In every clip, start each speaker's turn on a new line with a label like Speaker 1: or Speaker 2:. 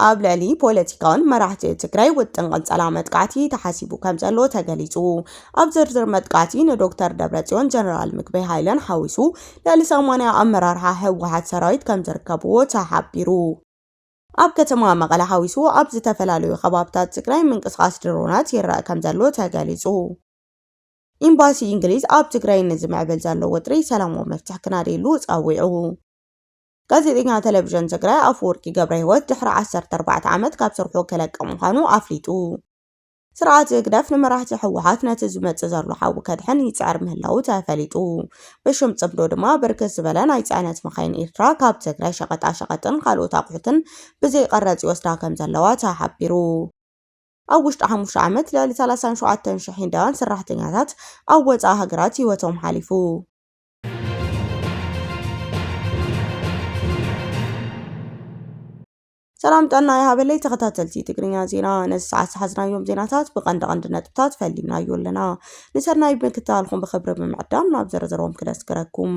Speaker 1: ኣብ ልዕሊ ፖለቲካውን መራሕቲ ትግራይ ውጥን ቀንጸላ መጥቃዕቲ ተሓሲቡ ከም ዘሎ ተገሊጹ። ኣብ ዝርዝር መጥቃዕቲ ንዶክተር ደብረጽዮን ጀነራል ምግበይ ሃይለን ሓዊሱ ልዕሊ 80 ኣመራርሓ ህወሓት ሰራዊት ከም ዝርከብዎ ተሓቢሩ። ኣብ ከተማ መቐለ ሓዊሱ ኣብ ዝተፈላለዩ ከባብታት ትግራይ ምንቅስቓስ ድሮናት ይረአ ከም ዘሎ ተገሊጹ። ኢምባሲ እንግሊዝ ኣብ ትግራይ ንዝምዕብል ዘሎ ወጥሪ ሰላማዊ መፍትሕ ክናደየሉ ጸዊዑ። ጋዜጠኛ ተለቪዥን ትግራይ ኣፈወርቂ ገብረህይወት ድሕሪ ዓሰርተ ኣርባዕተ ዓመት ካብ ስርሑ ክለቅ ምዃኑ ኣፍሊጡ። ስርዓት ህግደፍ ንመራሕቲ ህወሓት ነቲ ዝመጽእ ዘሎ ሓዊ ከድሕን ይጽዕር ምህላዉ ተፈሊጡ። ብሽም ጽምዶ ድማ ብርክት ዝበለ ናይ ጽዕነት መኻይን ኤርትራ ካብ ትግራይ ሸቐጣ ሸቐጥን ካልኦት ኣቑሑትን ብዘይቐረጽ ይወስዳ ከምዘለዋ ተሓቢሩ። ኣብ ውሽጢ ሓሙሽተ ዓመት ልዕሊ ሰላሳን ሸውዓተን ሽሕ ህንዳውያን ሰራሕተኛታት ኣብ ወጻኢ ሃገራት ህይወቶም ሓሊፉ። ሰላም ጥዕና ይሃበለይ ተኸታተልቲ ትግርኛ ዜና ነዚ ሰዓት ዝሓዝናዮም ዜናታት ብቐንዲ ቀንዲ ነጥብታት ፈሊምናዮ ኣለና ንሰናይ ምክትታልኩም ብክብሪ ብምዕዳም ናብ ዘረዘሮም ክነስግረኩም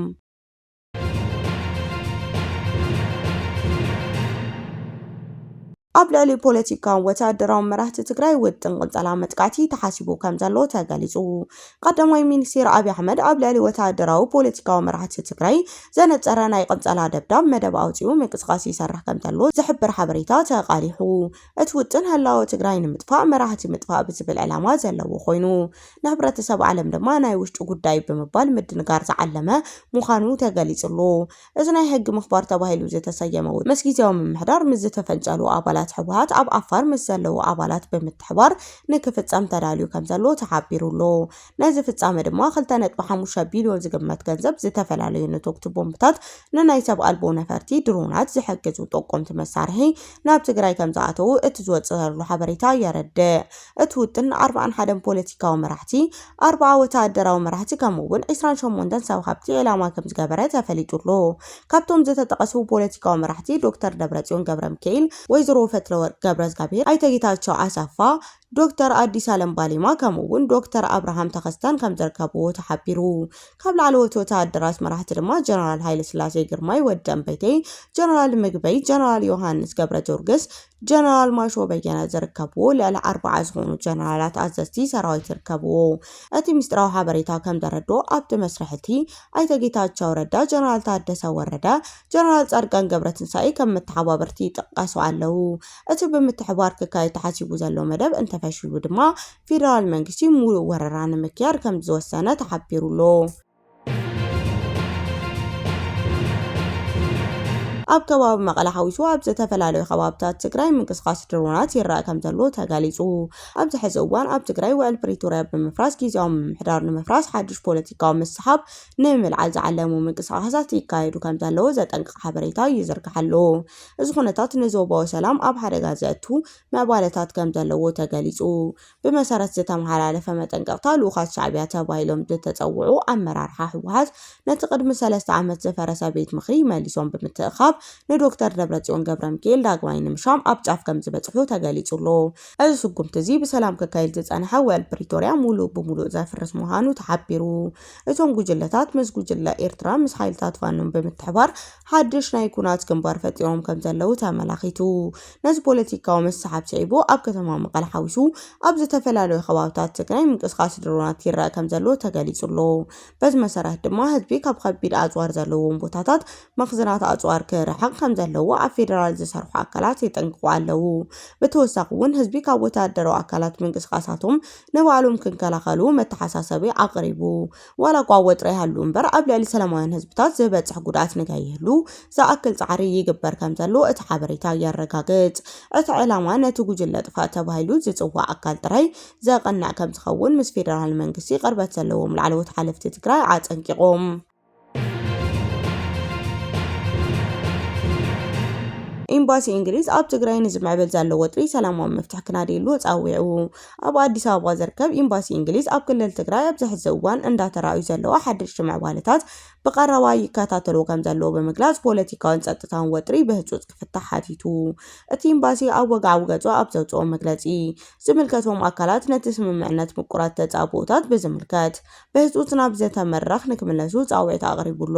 Speaker 1: ኣብ ልዕሊ ፖለቲካውን ወተሃደራውን መራሕቲ ትግራይ ውጥን ቅንጸላ መጥቃዕቲ ተሓሲቡ ከም ዘሎ ተገሊጹ። ቀዳማይ ሚኒስትር ኣብዪ ኣሕመድ ኣብ ልዕሊ ወተሃደራዊ ፖለቲካዊ መራሕቲ ትግራይ ዘነጸረ ናይ ቅንጸላ ደብዳብ መደብ ኣውጺኡ ምንቅስቓስ ይሰርሕ ከም ዘሎ ዝሕብር ሓበሬታ ተቓሊሑ። እቲ ውጥን ህላወ ትግራይ ንምጥፋእ መራህቲ ምጥፋእ ብዝብል ዕላማ ዘለዎ ኮይኑ ንሕብረተሰብ ዓለም ድማ ናይ ውሽጢ ጉዳይ ብምባል ምድንጋር ዝዓለመ ምዃኑ ተገሊፁ ኣሎ። እዚ ናይ ሕጊ ምኽባር ተባሂሉ ዝተሰየመ ውጥን ምስ ጊዜያዊ ምምሕዳር ምስ ዝተፈንጨሉ ኣባላት ህወሓት ኣብ ዓፋር ምስ ዘለዉ ኣባላት ብምትሕባር ንክፍፀም ተዳልዩ ከምዘሎ ተሓቢሩ ኣሎ። ነዚ ፍጻመ ድማ ክልተ ነጥቢ ሓሙሽተ ቢልዮን ዝግመት ገንዘብ፣ ዝተፈላለዩ ነቶግቲ ቦምብታት፣ ንናይ ሰብ ኣልቦ ነፈርቲ፣ ድሮናት፣ ዝሕግዙ ጠቆምቲ መሳርሒ ናብ ትግራይ ከምዝኣተዉ እቲ ዝወጽእ ዘሎ ሓበሬታ የረድእ። እቲ ውጥን ን ኣርብዓን ሓደን ፖለቲካዊ መራሕቲ፣ ኣርብዓ ወተሃደራዊ መራሕቲ ከምኡ'ውን ዕስራን ሸሞንተን ሰብ ሃብቲ ዒላማ ከምዝገበረ ተፈሊጡ ኣሎ። ካብቶም ዝተጠቐሱ ፖለቲካዊ መራሕቲ ዶክተር ደብረጽዮን ገብረሚካኤል፣ ወይዘሮ ፈትለወርቅ ገብረእዝጋብሄር፣ ኣይተ ጌታቸው ኣሰፋ፣ ዶክተር ኣዲስ ኣለም ባሌማ ከምኡ እውን ዶክተር ኣብርሃም ተኸስተን ከም ዝርከብዎ ተሓቢሩ። ካብ ላዕለዎት ወተሃደራት መራሕቲ ድማ ጀነራል ሃይለስላሴ ግርማይ፣ ወዲ እምበይተይ፣ ጀነራል ምግበይ፣ ጀነራል ዮሃንስ ገብረጀወርግስ፣ ጀነራል ማሾ በየነ ዝርከብዎ ልዕሊ ኣርብዓ ዝኾኑ ጀነራላት ኣዘዝቲ ሰራዊት ይርከብዎ። እቲ ምስጢራዊ ሓበሬታ ከም ዘረድኦ ኣብቲ መስርሕ እቲ ኣይተ ጌታቸው ረዳ፣ ጀነራል ታደሰ ወረደ፣ ጀነራል ፃድቃን ገብረትንሳኤ ከም መተሓባበርቲ ይጥቀሱ ኣለው። እቲ ብምትሕብባር ክካየድ ተሓሲቡ ዘሎ መደብ እንተፈሺሉ ድማ ፌደራል መንግስቲ ሙሉእ ወረራ ንምክያድ ከምዝወሰነ ተሓቢሩ'ሎ። ኣብ ከባቢ መቐለ ሓዊሱ ኣብ ዝተፈላለዩ ከባብታት ትግራይ ምንቅስቓስ ድሮናት ይረኣ ከምዘሎ ተገሊፁ። ኣብዚ ሕዚ እዋን ኣብ ትግራይ ውዕል ፕሪቶርያ ብምፍራስ ግዝያዊ ምምሕዳር ንምፍራስ ሓዱሽ ፖለቲካዊ ምስሓብ ንምልዓል ዝዓለሙ ምንቅስቓሳት ይካየዱ ከምዘለዉ ዘጠንቅቕ ሓበሬታ ይዝርጋሕ ኣሎ። እዚ ኩነታት ንዞባዊ ሰላም ኣብ ሓደጋ ዘእቱ ምዕባለታት ከም ዘለዎ ተገሊጹ። ብመሰረት ዝተመሓላለፈ መጠንቀቕታ ልኡኻት ሻዕብያ ተባሂሎም ዝተጸውዑ ኣመራርሓ ህወሓት ነቲ ቅድሚ ሰለስተ ዓመት ዝፈረሰ ቤት ምኽሪ መሊሶም ብምትእኻብ ንዶክተር ደብረጽዮን ገብረሚካኤል ዳግማይ ንምሻም ኣብ ጫፍ ከም ዝበጽሑ ተገሊጹ ኣሎ። እዚ ስጉምቲ እዚ ብሰላም ክካየድ ዝጸንሐ ውዕል ፕሪቶርያ ሙሉእ ብሙሉእ ዘፍርስ ምዃኑ ተሓቢሩ። እቶም ጉጅለታት ምስ ጉጅለ ኤርትራ ምስ ሓይልታት ፋኖን ብምትሕባር ሓድሽ ናይ ኩናት ግንባር ፈጢሮም ከም ዘለዉ ተመላኺቱ። ነዚ ፖለቲካዊ ምስሓብ ስዒቡ ኣብ ከተማ መቐለ ሓዊሱ ኣብ ዝተፈላለዩ ከባብታት ትግራይ ምንቅስቓስ ድሮናት ይረኣ ከም ዘሎ ተገሊጹ ኣሎ። በዚ መሰረት ድማ ህዝቢ ካብ ከቢድ ኣጽዋር ዘለዎም ቦታታት መኽዝናት ኣጽዋር ክርሕቕ ከም ዘለዎ ኣብ ፌደራል ዝሰርሑ ኣካላት የጠንቅቑ ኣለዉ። ብተወሳኺ እውን ህዝቢ ካብ ወተሃደራዊ ኣካላት ምንቅስቓሳቶም ንባዕሎም ክንከላኸሉ መተሓሳሰቢ ኣቕሪቡ። ዋላ እኳ ወጥሪ ይሃሉ እምበር ኣብ ልዕሊ ሰላማውያን ህዝብታት ዝበፅሕ ጉድኣት ንከይህሉ ዝኣክል ፃዕሪ ይግበር ከምዘሎ እቲ ሓበሬታ የረጋግፅ። እቲ ዕላማ ነቲ ጉጅለ ጥፋእ ተባሂሉ ዝፅዋዕ ኣካል ጥራይ ዘቐንዕ ከምዝኸውን ምስ ፌደራል መንግስቲ ቅርበት ዘለዎም ላዕለዎት ሓለፍቲ ትግራይ ኣፀንቂቖም። ኤምባሲ እንግሊዝ ኣብ ትግራይ ንዝምዕብል ዘሎ ወጥሪ ሰላማዊ መፍትሒ ክናድየሉ ፃዊዑ። ኣብ ኣዲስ ኣበባ ዝርከብ ኢምባሲ እንግሊዝ ኣብ ክልል ትግራይ ኣብዚ ሕዚ እዋን እንዳተራእዩ ዘለዉ ሓደሽቲ ምዕባለታት ብቐረባ ይከታተልዎ ከምዘለዎ ብምግላጽ ፖለቲካውን ጸጥታውን ወጥሪ ብህጹጽ ክፍታሕ ሓቲቱ። እቲ ኢምባሲ ኣብ ወግዓዊ ገጹ ኣብ ዘውጽኦ መግለጺ፣ ዝምልከቶም ኣካላት ነቲ ስምምዕነት ምቁራት ተጻብኦታት ብዝምልከት ብህጹጽ ናብ ዘተ መድረኽ ንክምለሱ ጻውዒት ኣቕሪቡ ኣሎ።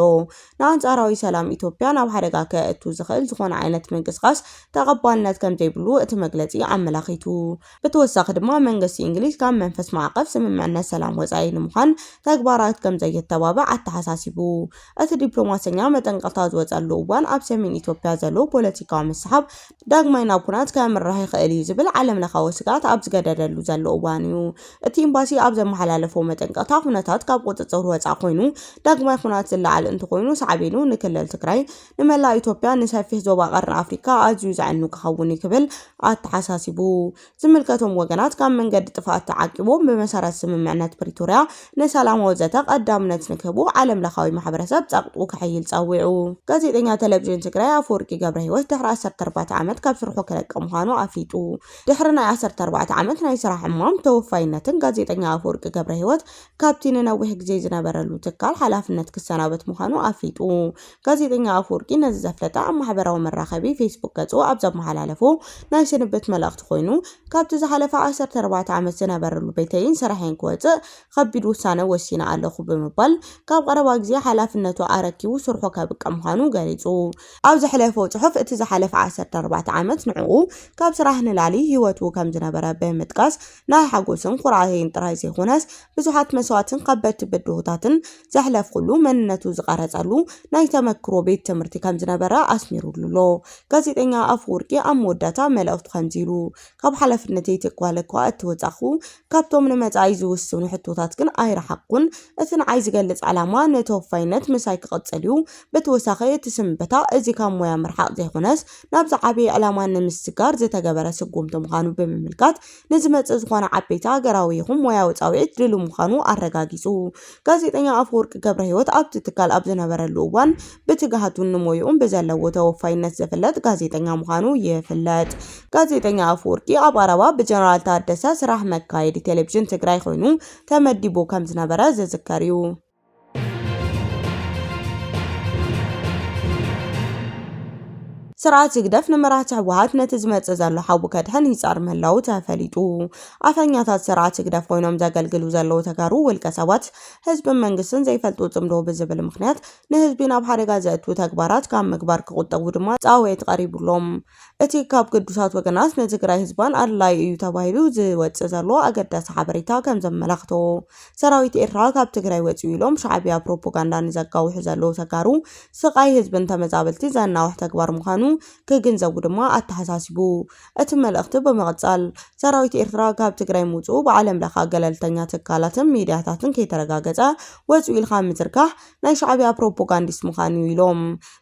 Speaker 1: ንኣንጻራዊ ሰላም ኢትዮጵያ ናብ ሓደጋ ከእቱ ዝኽእል ዝኾነ ዓይነት ምንቅስቓስ ተቐባልነት ከምዘይብሉ እቲ መግለጺ ኣመላኺቱ። ብተወሳኺ ድማ መንግስቲ እንግሊዝ ካብ መንፈስ ማዕቐፍ ስምምዕነት ሰላም ወፃኢ ንምዃን ተግባራት ከምዘየተባብዕ ኣተሓሳሲቡ። እቲ ዲፕሎማሰኛ መጠንቀቕታ ዝወፀሉ እዋን ኣብ ሰሜን ኢትዮጵያ ዘሎ ፖለቲካዊ ምስሓብ ዳግማይ ናብ ኩናት ከምርሕ ይኽእል እዩ ዝብል ዓለምለኻዊ ስግኣት ኣብ ዝገደደሉ ዘሎ እዋን እዩ እቲ ኢምባሲ ኣብ ዘመሓላለፎ መጠንቀቕታ ኩነታት ካብ ቁፅፅር ወፃእ ኮይኑ ዳግማይ ኩናት ዝለዓል እንተኾይኑ ሳዕቤኑ ንክልል ትግራይ ንመላእ ኢትዮጵያ ንሰፊሕ ዞባ ቀርኒ ኣፍሪካ ኣዝዩ ዘዕኑ ክኸውን እዩ ክብል ኣተሓሳሲቡ። ዝምልከቶም ወገናት ካብ መንገዲ ጥፍኣት ተዓቂቦም ብመሰረት ስምምዕነት ፕሪቶርያ ንሰላማዊ ዘተ ቀዳምነት ንክህቡ ዓለም ለኻዊ ማሕበረሰብ ፀቕጡ ከሐይል ፀዊዑ። ጋዜጠኛ ቴሌቪዥን ትግራይ ኣፈወርቂ ገብረሂወት ድሕሪ ዓሰርተ ኣርባዕተ ዓመት ካብ ስርሑ ክለቀ ምዃኑ ኣፍሊጡ። ድሕሪ ናይ ዓሰርተ ኣርባዕተ ዓመት ናይ ስራሕ ዕማም ተወፋይነትን ጋዜጠኛ ኣፈወርቂ ገብረሂወት ካብቲ ንነዊሕ ግዜ ዝነበረሉ ትካል ሓላፍነት ክሰናበት ምዃኑ ኣፍሊጡ። ጋዜጠኛ ኣፍወርቂ ነዚ ዘፍለጠ ኣብ ማሕበራዊ መራኸቢ ፌስቡክ ገጹ ኣብ ዘመሓላለፎ ናይ ስንብት መልእኽቲ ኮይኑ፣ ካብቲ ዝሓለፈ ዓሰርተ ኣርባዕተ ዓመት ዝነበረሉ ቤተይን ስርሐይን ክወጽእ ኸቢድ ውሳነ ወሲነ ኣለኹ ብምባል ካብ ቐረባ ግዜ ሓላፍነቱ ኣረኪቡ ስርሑ ከብቅዕ ምዃኑ ገሊጹ። ኣብ ዘሕለፎ ጽሑፍ እቲ ዝሓለፈ ዓሰርተ ኣርባዕተ ዓመት ንዕኡ ካብ ስራሕ ንላሊ ህይወቱ ከም ዝነበረ ብምጥቃስ ናይ ሓጎስን ኩርዓትን ጥራይ ዘይኮነስ ብዙሓት መስዋእትን ኸበድቲ ብድሆታትን ዘሕለፍኩሉ መንነቱ ዝቐረጸሉ ናይ ተመክሮ ቤት ትምህርቲ ከም ዝነበረ ኣስሚሩሉ ኣሎ። ጋዜጠኛ ኣፈወርቂ ኣብ መወዳእታ መልእኽቱ ከምዚ ኢሉ፣ ካብ ሓላፍነተይ ትካል እኳ እተወጻኹ፣ ካብቶም ንመጻኢ ዝውስኑ ሕቶታት ግን ኣይረሓቕኩን። እቲ ንዓይ ዝገልጽ ዕላማ ንተወፋይነት ምሳይ ክቕጽል እዩ። ብተወሳኺ እቲ ስንበታ እዚ ካብ ሞያ ምርሓቕ ዘይኮነስ ናብ ዝዓበየ ዕላማ ንምስግጋር ዝተገበረ ስጉምቲ ምዃኑ ብምምልካት ንዝመጽእ ዝኾነ ዓበይቲ ሃገራዊ ይኹን ሞያዊ ጻውዒት ድሉው ምዃኑ ኣረጋጊጹ። ጋዜጠኛ ኣፈወርቂ ገብረሂወት ኣብቲ ትካል ኣብ ዝነበረሉ እዋን ብትግሃቱን ንሞይኡን ብዘለዎ ተወፋይነት ዝፍለጥ ጋዜጠኛ ምዃኑ ይፍለጥ። ጋዜጠኛ ኣፈወርቂ ኣብ ኣረባ ብጀነራል ታደሰ ስራሕ መካየዲ ቴሌቪዥን ትግራይ ኮይኑ ተመዲቡ ከምዝነበረ ዝዝከር'ዩ። ስርዓት ህግደፍ ንመራሕቲ ህወሓት ነቲ ዝመጽእ ዘሎ ሓዊ ከድሕን ይጻር ምህላዉ ተፈሊጡ። ኣፈኛታት ስርዓት ህግደፍ ኮይኖም ዘገልግሉ ዘለዉ ተጋሩ ውልቀ ሰባት ህዝብን መንግስትን ዘይፈልጡ ጽምዶ ብዝብል ምኽንያት ንህዝቢ ናብ ሓደጋ ዘእቱ ተግባራት ካብ ምግባር ክቑጠቡ ድማ ጻውዒት ቀሪቡሎም። እቲ ካብ ግዱሳት ወገናት ንትግራይ ህዝባን ኣድላዩ እዩ ተባሂሉ ዝወፅእ ዘሎ ኣገዳሲ ሓበሬታ ከምዘመላኽቶ ሰራዊት ኤርትራ ካብ ትግራይ ወፂኡ ኢሎም ሻዕቢያ ፕሮፖጋንዳ ንዘጋውሑ ዘለዉ ተጋሩ ስቓይ ህዝብን ተመዛበልቲ ዘናውሕ ተግባር ምዃኑ ክግንዘቡ ድማ ኣተሓሳሲቡ። እቲ መልእኽቲ ብምቕፃል ሰራዊት ኤርትራ ካብ ትግራይ ምውፅኡ ብዓለምለኸ ገለልተኛ ትካላትን ሚድያታትን ከይተረጋገፀ ወፂኡ ኢልካ ምዝርጋሕ ናይ ሻዕብያ ፕሮፖጋንዲስት ምኻን እዩ ኢሎም።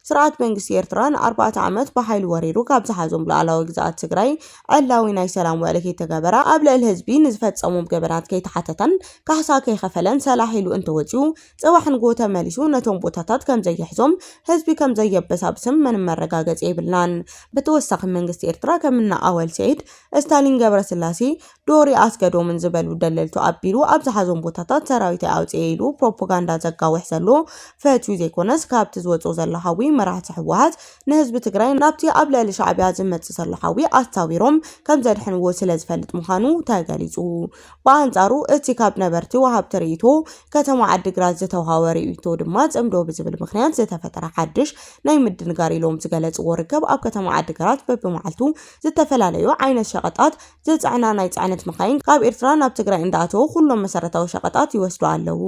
Speaker 1: ስርዓት መንግስቲ ኤርትራ ንኣርባዕተ ዓመት ብሓይሊ ወሪሩ ካብ ዝሓዞም ሉኣላዊ ግዝኣት ትግራይ ዕላዊ ናይ ሰላም ውዕሊ ከይተገበረ፣ ኣብ ልዕሊ ህዝቢ ንዝፈጸሞም ገበናት ከይተሓተተን ካሕሳ ከይኸፈለን ሰላሕ ኢሉ እንተወጺኡ ጽባሕ ንግሆ ተመሊሱ ነቶም ቦታታት ከምዘይሕዞም ህዝቢ ከምዘየበሳብስም ምንም መረጋገጺ የብልናን። ብተወሳኺ መንግስቲ ኤርትራ ከም እነ ኣወል ሰይድ፣ እስታሊን ገብረስላሴ፣ ዶሪ ኣስገዶምን ዝበሉ ደለልቱ ኣቢሉ ኣብ ዝሓዞም ቦታታት ሰራዊተይ ኣውፅኤ ኢሉ ፕሮፖጋንዳ ዘጋውሕ ዘሎ ፈትዩ ዘይኮነስ ካብቲ ዝወፅኦ ዘሎ ሓዊ መራሕቲ ህወሓት ንህዝቢ ትግራይ ናብቲ ኣብ ልዕሊ ሻዕቢያ ዝመፅእ ዘሎ ሓዊ ኣሳዊሮም ከምዘድሕንዎ ስለዝፈልጥ ምዃኑ ተገሊፁ። ብኣንፃሩ እቲ ካብ ነበርቲ ወሃብቲ ሪኢቶ ከተማ ዓዲግራት ዝተውሃወ ሪኢቶ ድማ ፅምዶ ብዝብል ምኽንያት ዝተፈጠረ ሓድሽ ናይ ምድንጋር ኢሎም ዝገለፅዎ ርክብ ኣብ ከተማ ዓዲግራት በቢመዓልቱ ዝተፈላለዩ ዓይነት ሸቐጣት ዝፀዕና ናይ ፅዕነት መኻይን ካብ ኤርትራ ናብ ትግራይ እንዳኣተዉ ኩሎም መሰረታዊ ሸቐጣት ይወስዱ ኣለዉ።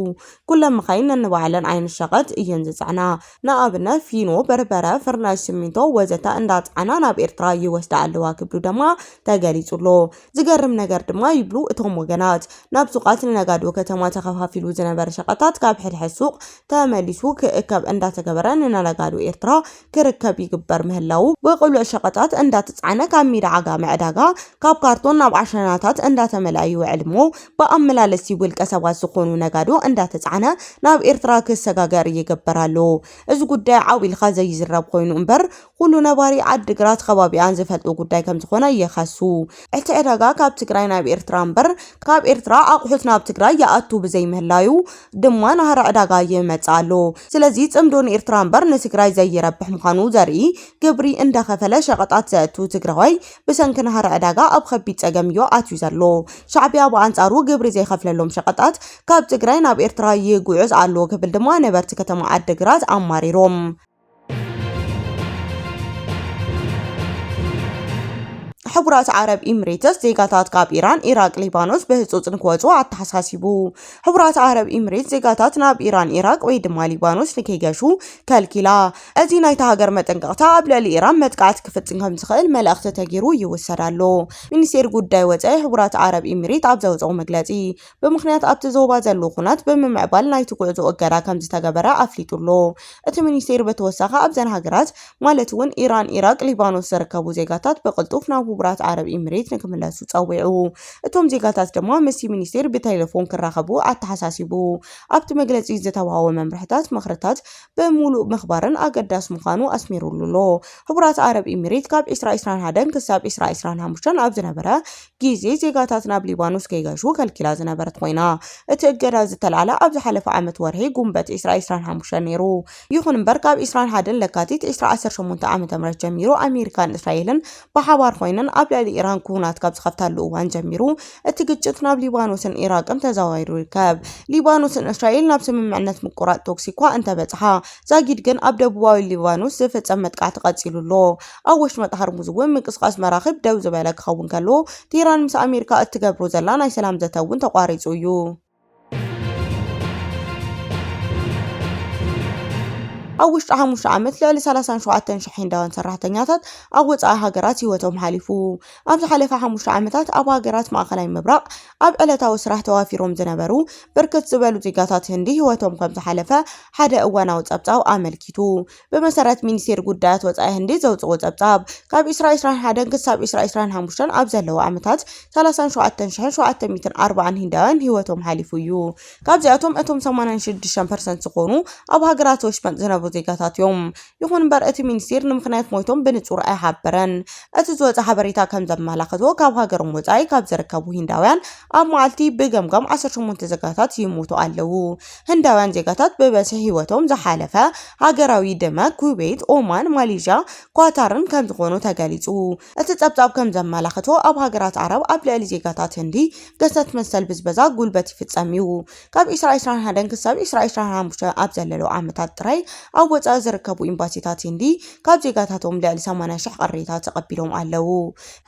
Speaker 1: ኩለን መኻይን ነንባዕለን ዓይነት ሸቐጥ እየን ዝፅዕና። ንኣብነት ፊኖ፣ በርበረ፣ ፍርናሽ ስሚንቶ ወዘተ እንዳፅዓና ናብ ኤርትራ ይወስዳ ኣለዋ ክብሉ ደማ ተገሊፁ ኣሎ። ዝገርም ነገር ድማ ይብሉ እቶም ወገናት ናብ ሱቓት ንነጋዶ ከተማ ተኸፋፊሉ ዝነበረ ሸቐጣት ካብ ሕድሕድ ሱቕ ተመሊሱ ክእከብ እንዳተገበረ ንነጋዶ ኤርትራ ክርከብ ይግበር ምህላዉ፣ ብቕሉዕ ሸቐጣት እንዳተጻዕነ ካብ ሜዳ ዓጋመ ዕዳጋ ካብ ካርቶን ናብ ዓሸናታት እንዳተመልኣ ይውዕል እሞ ብኣመላለስቲ ውልቀ ሰባት ዝኾኑ ነጋዶ እንዳተጻዕነ ናብ ኤርትራ ክሰጋገር ይግበር ኣሎ። እዚ ጉዳይ ዓው ኢልካ ዘይዝረብ ኮይኑ እምበር ኩሉ ነባሪ ዓዲግራት ከባቢኣን ዝፈልጦ ጉዳይ ከምዝኾነ ይኸሱ። እቲ ዕዳጋ ካብ ትግራይ ናብ ኤርትራ እምበር ካብ ኤርትራ ኣቑሑት ናብ ትግራይ ይኣቱ ብዘይምህላዩ፣ ድማ ናህሪ ዕዳጋ ይመጽእ ኣሎ። ስለዚ ጽምዶ ንኤርትራ እምበር ንትግራይ ዘይረብሕ ምዃኑ ዘርኢ ግብሪ እንዳኸፈለ ሸቐጣት ዘእቱ ትግራዋይ ብሰንኪ ናህሪ ዕዳጋ ኣብ ኸቢድ ጸገምዮ ኣትዩ ዘሎ። ሻዕቢያ ብኣንጻሩ ግብሪ ዘይኸፍለሎም ሸቐጣት ካብ ትግራይ ናብ ኤርትራ ይጉዕዝ ኣሎ ክብል ድማ ነበርቲ ከተማ ዓዲግራት ኣማሪሮም። ሕቡራት ዓረብ ኢምሬትስ ዜጋታት ካብ ኢራን፣ ኢራቅ፣ ሊባኖስ ብህጹጽ ንክወጹ ኣተሓሳሲቡ። ሕቡራት ዓረብ ኢምሬትስ ዜጋታት ናብ ኢራን፣ ኢራቅ ወይ ድማ ሊባኖስ ንከይገሹ ከልኪላ። እዚ ናይታ ሃገር መጠንቀቕታ ኣብ ልዕሊ ኢራን መጥቃዕቲ ክፍጽም ከም ዝኽእል መልእኽቲ ተገይሩ ይውሰድ ኣሎ። ሚኒስቴር ጉዳይ ወጻኢ ሕቡራት ዓረብ ኢምሬት ኣብ ዘውጽኦ መግለጺ ብምኽንያት ኣብቲ ዞባ ዘሎ ኹናት ብምምዕባል ናይቲ ጉዕዞ እገዳ ከምዝተገበረ ኣፍሊጡ ኣሎ። እቲ ሚኒስቴር ብተወሳኺ ኣብዘን ሃገራት ማለት እውን ኢራን፣ ኢራቅ፣ ሊባኖስ ዝርከቡ ዜጋታት ብቅልጡፍ ናብ ሁቡራት ዓረብ ኢሚሬት ንክምለሱ ፀዊዑ። እቶም ዜጋታት ድማ ምስቲ ሚኒስቴር ብቴሌፎን ክራኸቡ ኣተሓሳሲቡ። ኣብቲ መግለፂ ዝተውሃቦ መምርሕታት ምኽርታት ብሙሉእ ምኽባርን ኣገዳሲ ምዃኑ ኣስሚሩሉ ኣሎ። ሁቡራት ዓረብ ኢሚሬት ካብ ዒስራ ዒስራን ሓደን ክሳብ ዒስራ ዒስራን ሓሙሽተን ኣብ ዝነበረ ግዜ ዜጋታት ናብ ሊባኖስ ከይገሹ ከልኪላ ዝነበረት ኮይና፣ እቲ እገዳ ዝተላዕለ ኣብ ዝሓለፈ ዓመት ወርሒ ጉንበት ዕስራ ዕስራን ሓሙሽተን ነይሩ። ይኹን እምበር ካብ ዕስራን ሓደን ለካቲት ዕስራ ዓሰርተ ሸሞንተ ዓመተ ምህረት ጀሚሩ ኣሜሪካን እስራኤልን ብሓባር ኮይነን ኣብ ልዕሊ ኢራን ኩናት ካብ ዝኸፍታሉ እዋን ጀሚሩ እቲ ግጭት ናብ ሊባኖስን ኢራቅን ተዘዋዊሩ ይርከብ። ሊባኖስን እስራኤል ናብ ስምምዕነት ምቁራጽ ተኩሲ'ኳ እንተበጽሓ፣ ዛጊድ ግን ኣብ ደቡባዊ ሊባኖስ ዝፍጸም መጥቃዕቲ ቀጺሉ ኣሎ። ኣብ ወሽመጥ ሃርሙዝ እውን ምንቅስቓስ መራኽብ ደው ዝበለ ክኸውን ከሎ፣ ቴህራን ምስ ኣሜሪካ እትገብሮ ዘላ ናይ ሰላም ዘተ እውን ተቋሪጹ እዩ። ኣብ ውሽጢ ሓሙሽተ ዓመት ልዕሊ 37 ሽሕ ህንዳውያን ሰራሕተኛታት ኣብ ወጻኢ ሃገራት ህይወቶም ሓሊፉ። ኣብ ዝሓለፈ ሓሙሽተ ዓመታት ኣብ ሃገራት ማእከላይ ምብራቕ ኣብ ዕለታዊ ስራሕ ተዋፊሮም ዝነበሩ ብርክት ዝበሉ ዜጋታት ህንዲ ህይወቶም ከም ዝሓለፈ ሓደ እዋናዊ ጸብጻብ ኣመልኪቱ። ብመሰረት ሚኒስቴር ጉዳያት ወጻኢ ህንዲ ዘውጽእዎ ጸብጻብ፣ ካብ ዕስራ ዕስራን ሓደን ክሳብ ዕስራ ዕስራን ሓሙሽተን ኣብ ዘለዉ ዓመታት፣ ሰላሳን ሸውዓተን ሽሕን ሸውዓተ ሚእትን ኣርባዓን ህንዳውያን ህይወቶም ሓሊፉ እዩ። ካብዚኣቶም እቶም ሰማንያን ሽዱሽተን ፐርሰንት ዝኾኑ ኣብ ሃገራት ወሽመጥ ዝነብሩ ዜጋታት እዮም። ይኹን እምበር እቲ ሚኒስቴር ንምኽንያት ሞይቶም ብንጹር ኣይሓበረን። እቲ ዝወጸ ሓበሬታ ከም ዘመላኸቶ፣ ካብ ሃገሮም ወጻኢ ካብ ዝርከቡ ህንዳውያን ኣብ መዓልቲ ብገምጋም ዓሰርተ ሸሞንተ ዜጋታት ይሞቱ ኣለዉ። ህንዳውያን ዜጋታት ብበዝሒ ህይወቶም ዝሓለፈ ሃገራዊ ደመ ኩዌት፣ ኦማን፣ ማሌዥያ፣ ኳታርን ከምዝኾኑ ተገሊፁ። እቲ ፀብፃብ ከምዘመላኽቶ ኣብ ሃገራት ዓረብ ኣብ ልዕሊ ዜጋታት ህንዲ ግህሰት መሰል ብዝበዛ ጉልበት ይፍፀም እዩ። ካብ ዒስራ ዒስራን ሓደን ክሳብ ዒስራ ዒስራን ሓሙሽተን ኣብ ዘለለዉ ዓመታት ጥራይ ኣብ ወፃኢ ዝርከቡ ኢምባሲታት ህንዲ ካብ ዜጋታቶም ልዕሊ ሰማንያ ሽሕ ቅሬታ ተቐቢሎም ኣለዉ።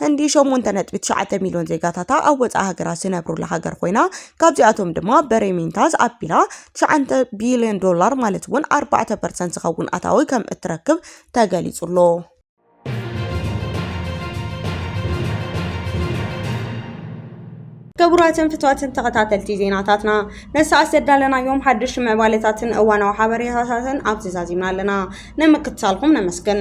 Speaker 1: ህንዲ ሸሞንተ ነጥቢ ትሽዓተ ሚልዮን ዜጋታታ ኣብ ወጻኢ ሃገራት ዝነብሩላ ሃገር ኮይና ካብዚኣቶም ድማ በሬሜንታዝ ኣቢላ ትሽዓተ ቢልዮን ዶላር ማለት እውን ኣርባዕተ ፐርሰንት ዝኸውን ኣታዊ ከም እትረክብ ተገሊጹ ኣሎ። ክቡራትን ፍትዋትን ተኸታተልቲ ዜናታትና ንሰዓት ዘዳለናዮም ሓድሽ ምዕባለታትን እዋናዊ ሓበሬታታትን ኣብዚ ዛዚምና ኣለና ንምክትታልኩም ነመስግን።